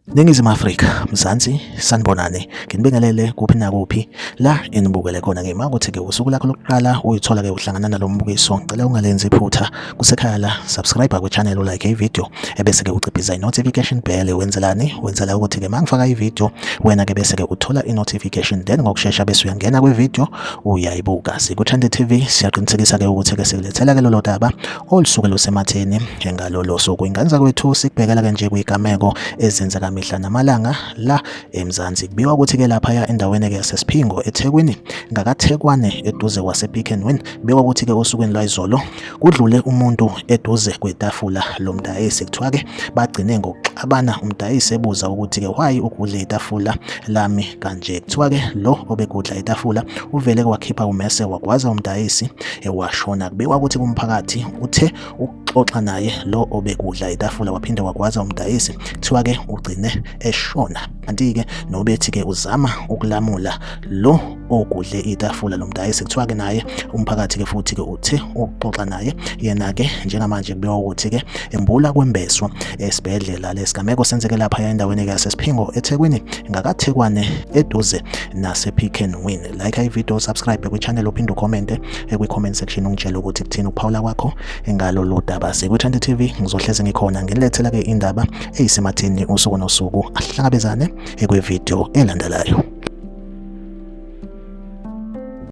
Ningizimu Afrika, Mzansi, sanibonani. Nginibingelele kuphi nakuphi la enibukele khona ngima ukuthi-ke usuku lakho lokuqala uyithola-ke uhlangana nalo mbukiso. Ngicela ungalenzi iphutha Kusekhala subscribe kwi channel u like i video ebese ke uciphiza i notification bell wenzelani wenzela ukuthi ke mangifaka i video wena ke bese ke uthola i notification then ngokusheshsha bese uyangena kwi video uyayibuka siku Trend TV siyaqinisekisa ke ukuthi ke sikulethela ke lolo daba olusuke lusematheni njengalolo suku inganza kwethu sikubhekela ke nje kuyigameko ezenzeka mihla namalanga la eMzansi kubiwa ukuthi ke lapha ya endaweni ke yasesiphingo eThekwini ngakathekwane eduze kwase Pick and Win biwa ukuthi ke osukwini lwayizolo Kudlule umuntu eduze kwetafula lomdayisi kuthiwa ke bagcine ngokuxabana umdayisi ebuza ukuthi ke why ugudle itafula lami kanje. Kuthiwa ke lo obegudla itafula uvele kwakhipha umese wagwaza umdayisi ewashona. Kubikwa ukuthi kumphakathi uthe ukuxoxa naye lo obegudla itafula waphinde wagwaza umdayisi kuthiwa ke ugcine eshona. Kanti ke nobethi ke uzama ukulamula lo ogudle itafula lo mdayisi kuthiwa-ke naye umphakathi-ke futhi-ke uthi ukuxoxa naye yena-ke njengamanje kubikwa ukuthi-ke embula kwembeswa esibhedlela lesigameko senzeke lapha endaweni yasesiphingo ethekwini ngakathekwane eduze nase-pick and win like ividiyo subscribe kwichannel uphinde ukhomente kwi-comment section ungitshele ukuthi kuthini ukuphawula kwakho ngalolu daba sikwithandi tv ngizohlezi ngikhona nginilethela-ke indaba eyisematheni usuku nosuku ahlangabezane ekwividiyo elandelayo.